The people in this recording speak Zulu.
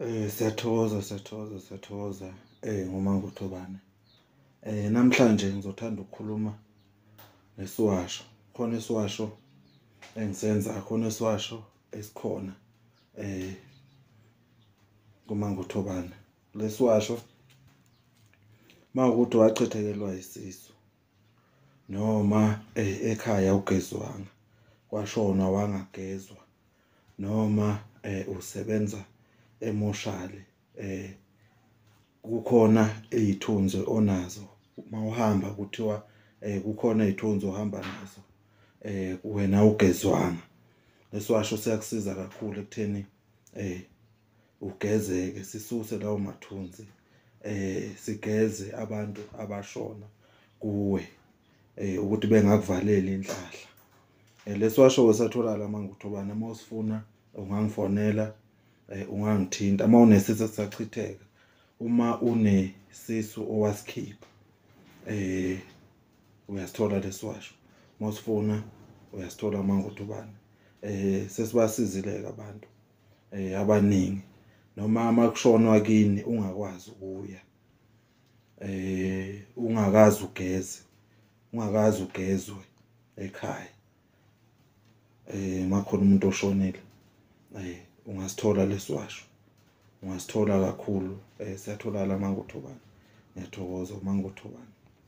Eh siyathokoza siyathokoza siyathokoza eh ngoma ngothobane. Eh namhlanje ngizothanda ukukhuluma ngesiwasho. Khona isiwasho engisenza khona isiwasho esikhona eh ngoma ngothobane. Lesiwasho mawukuthi wachithekelwa isisu noma eh, ekhaya ugezwanga kwashona wangagezwa noma eh, usebenza emoshali eh kukhona izithunzi onazo uma uhamba kuthiwa eh kukhona izithunzi ohamba nazo eh wena ugezwanga lesiwasho siyakusiza kakhulu ekutheni eh ugezeke sisuse lawo mathunzi eh sigeze abantu abashona kuwe eh ukuthi bengakuvaleli inhlahla eh, lesiwasho wesatholakala manje uthobana uma usifuna ungangifonela eh, ungangithinta uma unesisu sisachitheka uma unesisu owasikhipha eh uyasithola lesiwasho uma usifuna uyasithola manje uthobana eh sesibasizile abantu eh abaningi noma uma kushonwa kini ungakwazi ukuya eh ungakazi ugeze ungakazi ugezwe ekhaya eh makhona umuntu oshonile eh ungasithola lesiwasho ungasithola kakhulu eh siyatholakala mangothobana ngiyathokoza mangothobana